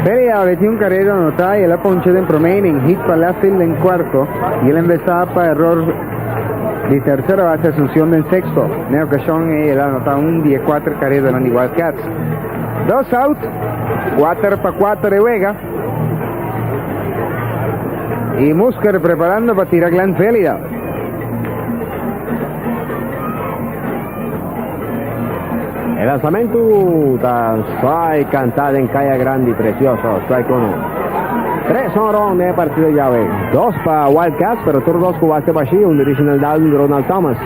Perry Abbey tin un carrera anotá y el a poncha den prome inning, hit pa left field den cuarto y el a invesá pa error di tercer base Asuncion den sexto. Na e ocasion ey el a anotá un di e cuater careranan di Wildcats. Dos out, cuater pa cuater e wega y Musker preparando pa tira Glenn Velida. E lansamentu ta suai kantá den Kaya Grandi, presioso, suai kono. Tres honron na e partido yawe. Dos pa Wildcats, pero tur dos ku waste bashí, un di Reginald Dowden i Ronald Thomas.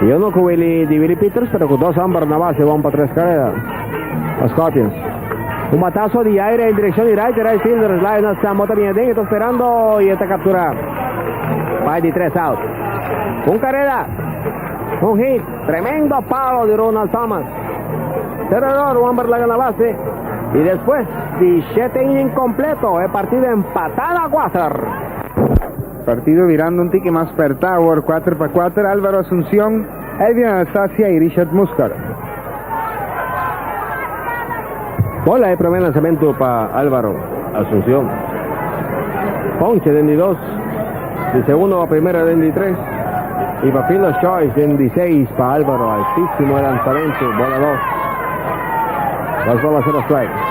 I uno ku Willy di Willy Pieters, pero ku dos homber na base wòm pa tres karera pa Scorpions. Un bataso di aire en direkshon di right, e right fielder Lionel Sambo ta bin aden, e ta sperando i e ta kapturá pa e di tres out. Un karera! Un hit! Tremendo palo di Ronald Thomas. Ter eror Wamber laga na base y despues di shete inning completo e partido empata na cuater. Partido birando un tiki mas perta awor cuater pa cuater, Alvaro Asuncion, Edwin Anastasia y Richard Muscar. Bola e prome lansamentu pa Alvaro Asuncion. Ponche den di dos, di segundo pa primero den di tres y pa fin los choice den di seis pa Alvaro. Altísimo e lansamentu, bola los. Los bola cero strike.